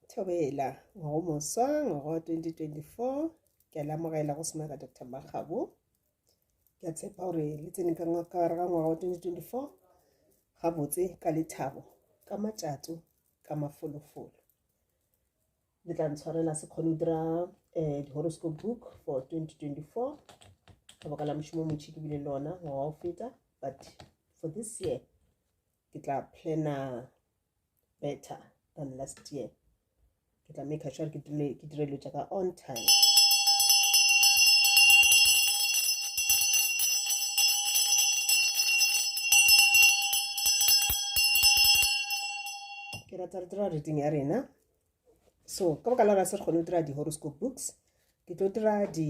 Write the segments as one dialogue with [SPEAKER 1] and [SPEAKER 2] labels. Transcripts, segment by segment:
[SPEAKER 1] Thobela, ngwago moswa, ngwago wa 2024, ke a lamogela go semaka Dr. Makgabo. Ke a tshepa gore le tsene ka ngwakare ga ngwaga wa 2024, gabotse ka lethabo, ka matšato, ka mafolofolo. Le tla ntshwarela se kgone go dira um di-horoscope book for 2024 ka baka la mošomo motšhi ke bile lona ngwaga o feta but for this year ke tla plana better than last year ke tla make sure ke dire ke dire lotša ka on time ke rata re dira reading ya rena so ka baka la ra se re kgone go dira di-horoscope books ke tlo dira di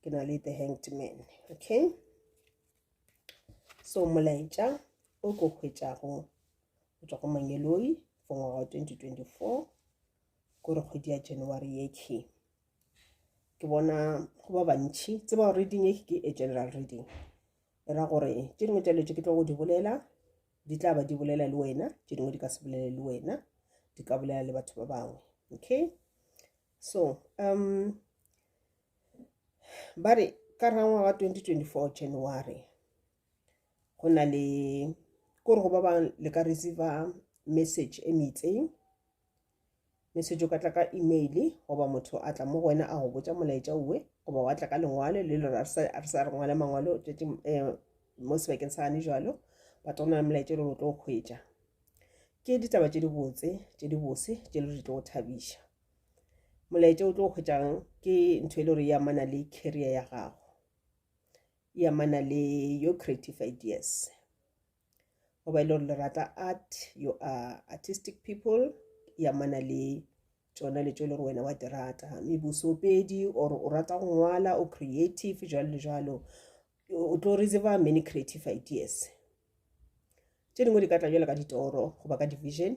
[SPEAKER 1] ke na le the hanged man okay so molaetša o ko hwetšago go tswa go mangeloi for ngwaga wa 2024 kore kgwedi ya january ye ke ke bona go ba bantšhi tseba gore reading e ke a general reading e ra gore tše dingwe tša letše ke tlo go di bolela di tla ba di bolela le wena tše dingwe di ka se bolele le wena di ka bolela le batho ba bangwe okay so um ba re ka rangwa ga 2024 january go na le kore go ba ba le ka receive message e meitseng message o ka tla ka email goba motho a tla mo go wena a go botsa molaetša uwe goba wa tla ka lengwalo le lore a re sa re ngwale mangwalo tšatši eh, mo sebakeng sa gane jalo ba tla go na le molaetša e lore o tlo go kgwetša ke ditaba tše dibotse tše dibose tše le di tlo go thabiša molaetša o tlo o hwetšang ke ntho e le gore e amana le carrier ya gago e amana le your creative ideas goba e le gore le rata art you are artistic people e amana le tsona le tso e le gore wena wa di rata mme bosopedi or o rata go ngwala o creative jalo le jalo o tlo re tseba many creative ideas tse dingwe di ka tla jalo ka ditoro goba ka division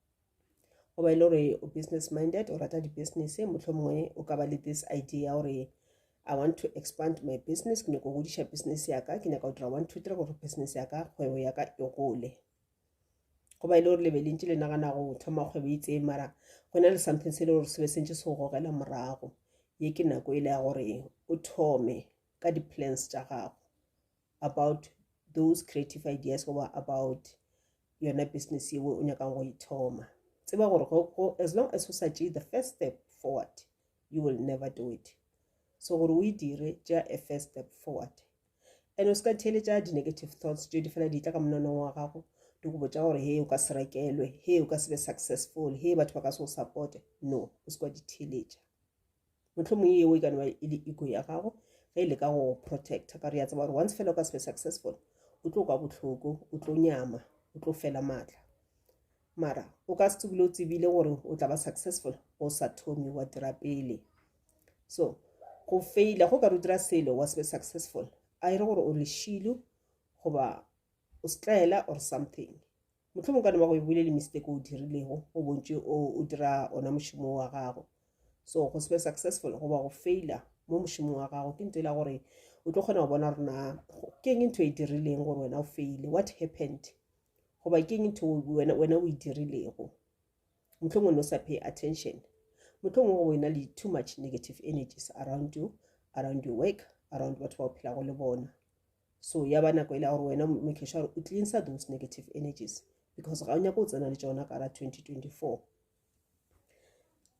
[SPEAKER 1] goba e le gore o business minded o rata di-business motlho mongwe o ka ba le this idea ya gore i want to expand my business ke nyako godiša business yaka ke nyaka go dira one two three gore business yaka kgwebo yaka e gole goba e le gore lebe le ntse le nagana go thoma kgwebo e itseng mara go na le something se e le gore se be se ntse se go gogela morago ye ke nako e le ya gore o thome ka di-plans tša gago about those creative ideas goba about yona business yeo o nyakang go ithoma e tseba gore as long as o sa tšee the first step forward you will never do it so gore o e dire tšea a first step forward and o se ka theletša di-negative thoughts tšeo di fela di tla ka monanong wa gago di go botša gore he o ka se rekelwe he o ka se be successful he batho ba ka se go supporte no o se kwa di theletša mohlomong yeo e ka noba e le ego ya gago ge e le ka go protecta ka gore ya tseba gore once fela o ka se be successful o tlo kwa bohloko o tlo nyama o tlo fela maatla mara o ka se tsebile o tsebile gore o tla ba successful o sa thomi wa dira pele so go faila go ka re o dira selo wa se be successful a e re gore o leshilu goba o setlaela or something mohlomong ka neba go e bolele mistake o dirilego o bontše o dira ona mošomo wa gago so go se be successful goba go faila mo mošomong wa gago ke nto e la gore o tlo kgona go bona gore na ke eng ntho e dirileng gore wena o faile what happened goba ke eng ntho wena o e dirilego motlhong o ne o sa pay attention motlhong o go e na le too much negative energies around you around your work around batho ba o phelago le bona so ya ba nako e le gore wena make sure gore o cleansa those negative energies because ga o nyako o tsena le tsona ka ra 2024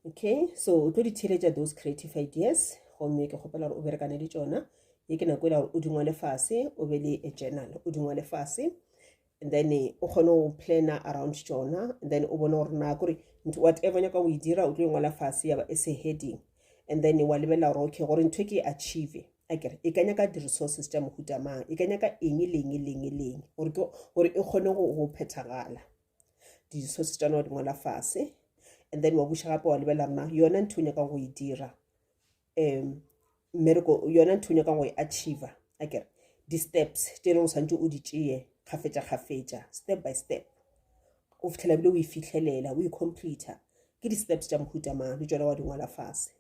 [SPEAKER 1] okay so o tlo di theletša those creative ideas gomme ke kgopela gore o berekane le tsona ye ke nako e le gore o dingwale fase o be le a journal o dingwale fase and then eh, o kgone go plana around tsona and then o bone gore na kore whatever nyaka o e dira o tlo e ngwala fase yaba e se heading and then wa lebelela gore okay gore ntho e ke e achieve a kere e ka nyaka di-resources tša mohuta mang e ka nyaka eng leng leng leng gore e kgone go phethagala di-resources tša nao di ngwala fase and then wa buša gape wa lebelela rena yona ntho o nyakang go e dira um mmereko yona ntho nyaka go e achiever a kere di-steps tše e leng o santse o di tšeye kgafetša kgafetša step by step o fitlhela bile o e fitlhelela o e completa ke di-steps tša mohuta mang le tšona wa di ngwala fase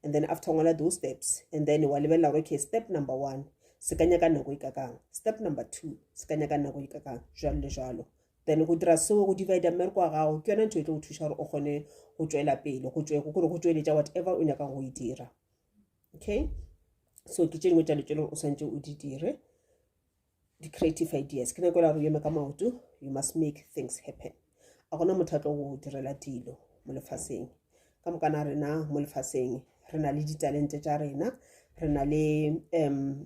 [SPEAKER 1] and then after ngwala those steps and then wa lebelela gore okay step number one se ka nyaka nako e kakang step number two se ka nyaka nako e kakang jalo le jalo then go dira seo go divide mmereko wa gago ke yona ntho e tlo go thuša gore o kgone go tšwela pele go tšwe gore go tšweletša whatever o nyakang go e dira okay so ke tše dingwe tša le tšeleng o swantse o di dire di-creative ideas ke nako e la gore yeme ka maoto you must make things happen a gona motho a tlo go direla dilo mo lefaseng ka mokana rena mo lefaseng re na le ditalente tša rena re na le um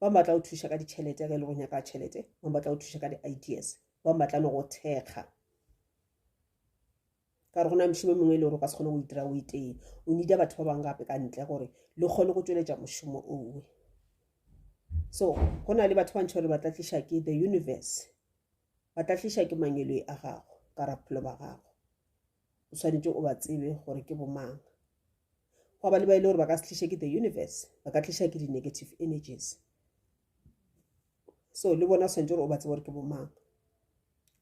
[SPEAKER 1] ba batla go thuša ka ditšhelete ge e le go nyaka tšhelete ba batla go thuša ka di-ideas ba batla le go thekga ka gore go na mošomo mongwe e le gore o ka se kgone go itira o itee o nida batho ba bangwe gape ka ntle gore le kgone go tsweletša mošomo owe so go na le batho ba ntšha gore ba tla tliša ke the universe ba tla tliša ke mangelo a gago ka raphelo ba gago o swanetše o ba tsebe gore ke bomang gwa ba le ba e le gore ba ka se tliša ke the universe ba ka tliša ke di-negative energies so le bona o swanetše gore o ba tsebe gore ke bomang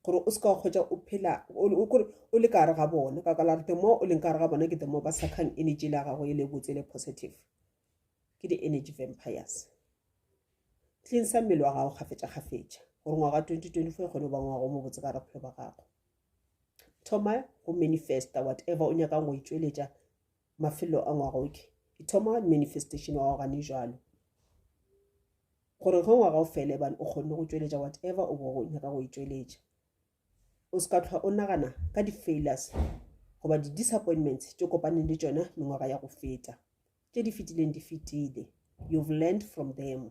[SPEAKER 1] gore o se ka kgwetsa o phela kore o le kare ga bone ka kala the more o leng kare ga bone ke the more ba sakhang energy la gago e le botse le positive ke di-energy vampires tleng sa mmele wa gago kgafetša-kgafetša gore ngwaga 2024 e kgone go ba ngwago mo botse ka re bophelo ba gago thoma go manifesta whatever o nyakang go e tšweletša mafelo a ngwagoke e thoma manifestation wa gane jalo gore ge ngwaga o fele bane o kgonne go tšweletša whatever o bo go nyaka go e tšweletša o se ka tlhwa o nagana ka di-failures goba di-disappointments tše kopaneng le tšona mengwaga ya go feta tše di fetileng di fetile you've learned from them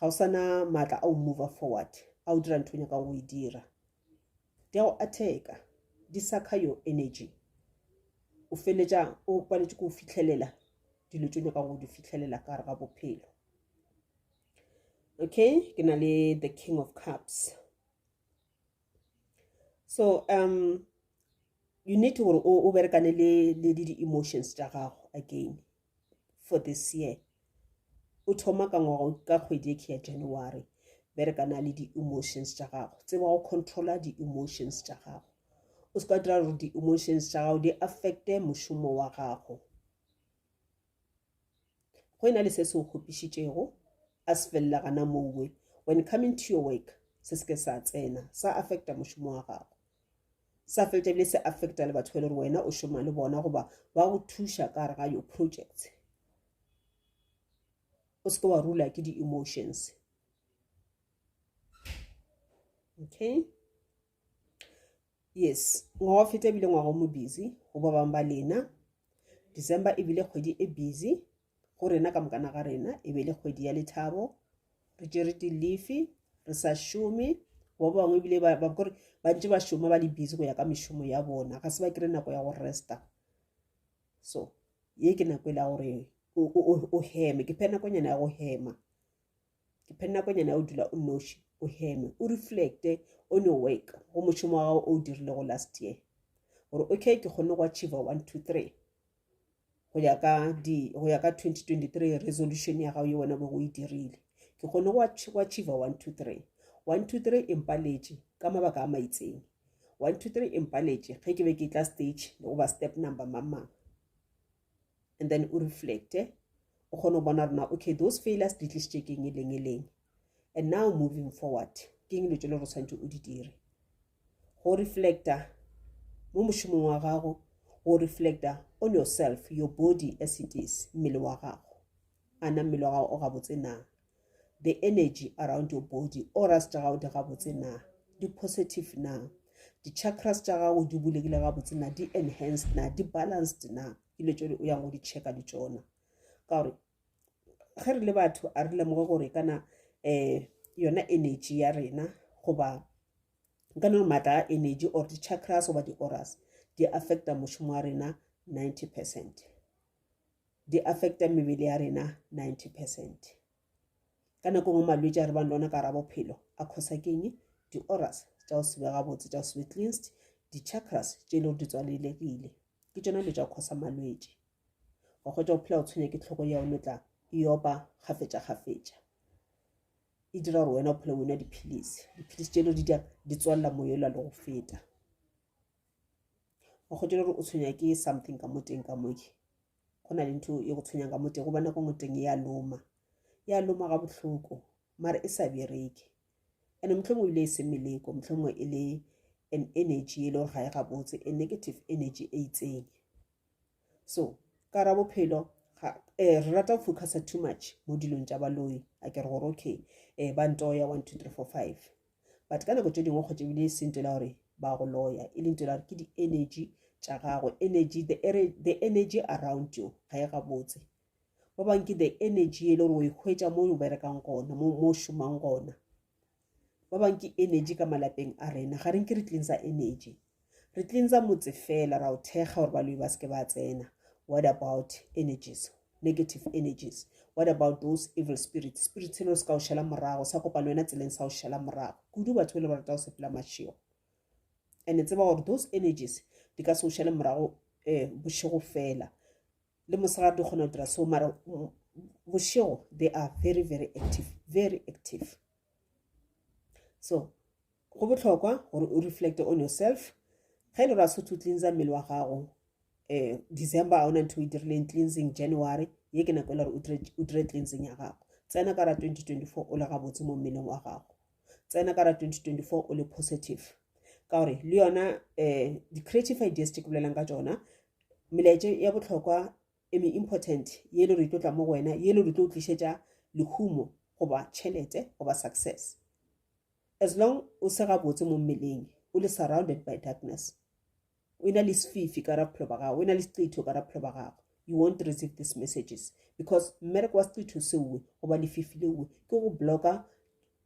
[SPEAKER 1] ga o sana maatla a o move forward a o dira ntho o nyakang go e dira di a go atheka di sakha your energy o feletša o paletše ko o fitlhelela dilo tse o nyakang go di fitlhelela ka gare ga bophelo okay ke na le the king of cups so um you need gore o berekane le di-emotions tša gago again for this year o thoma ka ngwaga ka kgwedi eke ya january bereka na le di-emotions tša gago tseba go controla di-emotions tša gago o se ka dira gore di-emotions tša gago di affecte mošomo wa gago go e na le se se o kgopišitšego a se felela gana mowe when coming to your work se se ke sa tsena sa affecta mošomo wa gago sa fetša ebile se affecta le batho ba e le gore wena o šoma le bona goba ba go thuša ka gare ga your project o seke wa rula ke di-emotions okay yes ngwaga wa feta ebile ngwaga o mo busy go ba bangwe ba lena december ebile kgwedi e busy go rena ka mokana ga rena e be le kgwedi ya lethabo re tšere dilifi re sa šome ba bangwe ebile ba kore ba ntse ba šoma ba le busy go ya ka mešomo ya bona ga se ba kry nako ya go resta so ye ke nako e le ya gore o heme ke phe nakonyana ya go hema ke phe nakonyana ya o dula o noši o heme o reflecte o ne work go mošomo wa gago o o dirilego last year gore okay ke kgone go achieve one two three go ya ka di go ya ka 2023 resolution ya gago ye wena bo go e dirile ke kgone go achieve one two three one two three e mpaletše ka mabaka a maitseng one two three e mpaletše ge ke be ke tla stage le goba step number mamang and then o reflecte o kgone go bona rona okay those failures di tlisitše ke eng e leng e leng and now moving forward ke eng dilo tse le gore tshwanetse o di dire go reflecta mo mošomong wa gago go reflecta on yourself your body as it is mmele wa gago ana mmele wa gago o gabotse na the energy around your body oras tša gago di gabotse na di positive na di-chakras tša gago di bulegile gabotse na di enhanced na di balanced na ke le tsone o yang go di checka le tsona ka gore ge re le batho a re lemoge gore kana um yona energy ya rena goba nka nore maatla a energy or di-chakras goba di-oras di affecta mošomo wa rena ninety percent di affecta mebele ya rena 90 percent ka nako ngwe malwetse a re bang lona ka ra bophelo a khosa keng di-oras tša go sebe gabotse tša go sebe cleansed di-chakras tše e le gore di tswalelegile ke tšona dilo tša go khosa malwetse wa kgwetsa go phela o tshwenya ke tlhoko ya one tla e opa kgafetša kgafetša e dira gore wena o phele wena dipilisi dipilisi tše e le di di tswalela moyola le go feta wa kgotšela gore o tshwenya ke something ka mo teng ka moke go na le ntho e go tshwenyang ka mo teng gobane ko ngoteng ya loma ya loma ga bohloko mare e sa bereke and motlhongwe ebile e se meleko motlhongwe e le an energy e le gore ga e gabotse a negative energy e itseng so ka ra bophelo eh, re rata go focusa too much mo dilong tša baloi a ke re gore okay um ba ntoya one two three four five but ka nako tše dingwe kgotse ebile e se nto la gore ba go loya e le nto la gore ke di-energy tša gago energy the, the energy around you ga e gabotse ba bangwe ke the energy e le gore o e hwetša mo o berekang gona mo o šomang gona ba bangwe ke energy ka malapeng a rena ga reng ke re tleng sa energy Re cleansa motse fela, ra o thekga gore baloi ba seke ba tsena. What about energies, negative energies? What about those evil spirits? Spirits se le se ka o šela morago, sa kopano wena tseleng sa o šela morago. Kudu batho le ba rata go sepela mašego. And e tseba gore those energies di ka se o šele morago eh bošego fela. Le mosegare di kgona go dira so mara mm, bošego they are very very active, very active. So Go bohlokwa gore o reflecte on yourself. Ge e le gore a se to cleansa mmele wa gago eh, December a ona ntho o e dirileng cleansing January ye ke nako e le gore o dire cleansing ya gago tsena ka ra 2024 o le gabotse mo mmeleng wa gago tsena ka ra 2024 o le positive ka gore le yona um eh, di-creative ideas tse ke bolelang ka tsona melaetše ya botlhokwa eme important ye e le gore e tlo tla mo go wena ye e le gore e tlo o tlišetša lehumo goba tšhelete goba success As long o se gabotse mo mmeleng, o le surrounded by darkness. O ena le sefifi ka ra bophelo ba gago, o ena le seqitho ka ra bophelo ba gago. You won't receive these messages because mmereko wa seqitho seowe goba lefifi leowe ke go blocka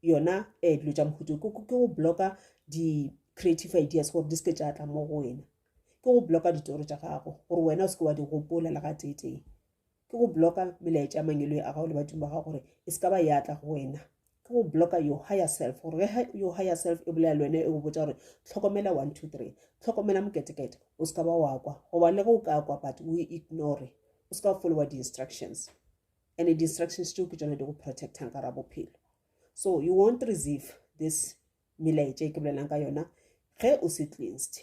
[SPEAKER 1] yona um dilo tša mohuto ke go blocka di-creative ideas gore di seke tša tla mo go wena ke go blocka ditoro tša gago gore wena o seke wa di gopola le ga teetee ke go blocka melaetša ya mangelo a gago le badimo ba gago gore e se ka ba ya tla go wena ke go blocka your higher self gore ge your higher self e bolela le wena e go botsa gore tlhokomela one two three tlhokomela moketekete o se ka ba wa kwa goba le ge o ka kwa but o ignore o se ka wa followa di-instructions and di-instructions tšeo ke tsone di go protectang ka ra bophelo so you won't receive this melaetša e ke bolelang ka yona ge o se cleansed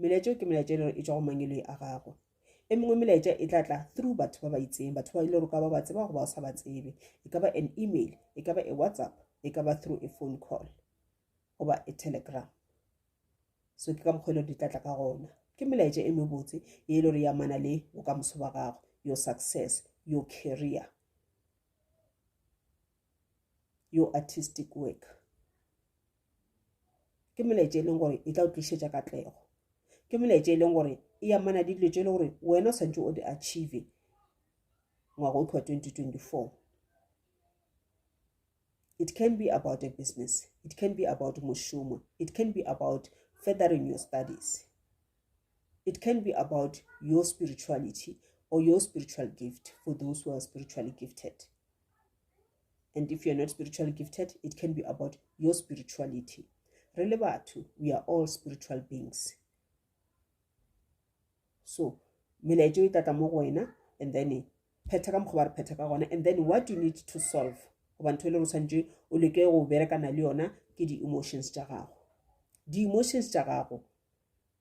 [SPEAKER 1] melaetša ke melaetša e le gore e tšwa go mangeloi a gagwe e mengwe melaetša e tla tla through batho ba ba itseng batho ba e le gore ka ba ba tseba go ba o sa ba tsebe e ka ba an email e ka ba e whatsapp e ka ba through a phone call goba a telegram so ke ka mokgwa e le gore di tla tla ka gona ke melaetša e mebotse e le gore ya mana le bokamoso ba gago your success your career your artistic work ke molaetša e leng gore e tla o tlišetša katlego ke molaetša e leng gore e amana le dilo tše e le gore wena o tshwanetse o di achieve ngwaga o tlhoa 2024 it can be about a business it can be about mošomo it can be about feathering your studies it can be about your spirituality or your spiritual gift for those who are spiritually gifted and if you're not spiritually gifted it can be about your spirituality re le batho we are all spiritual beings so melaetšo e tlatla mo go wena and then phetha ka mokgwa ba re phetha ka gona and then what you need to solve goba ntho e le re tshwanetse o leke go berekana le yona ke di-emotions tša gago di-emotions tša gago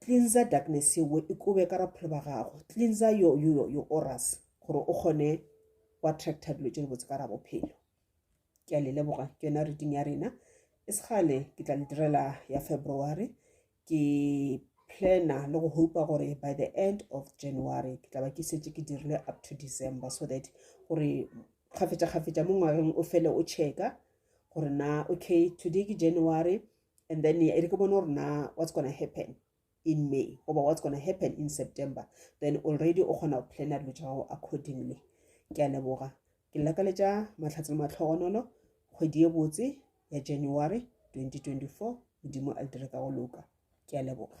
[SPEAKER 1] Cleansa darkness yeo e kobe ka raphelo ba gago. Cleansa yo, yo, yo, yo oras gore o kgone go attracta dilo tše di botse ka ra bophelo. Ke a le leboga ke yona reading ya rena. E segale ke tla le direla ya February. Ke plana le go hopa gore by the end of January ke tla ba ke setse ke dirile up to December so that gore kgafetša kgafetša mo ngwageng o fele o checka gore na okay today ke January and then e re ke bone gore na what's gonna happen in may goba what's gonna happen in september then already o kgona go plana dilo tša gago accordingly ke a leboga ke lakaletša matlhatse le matlhogonolo kgwedi e botse ya january 2024 modimo a le dire ka go loka ke a leboga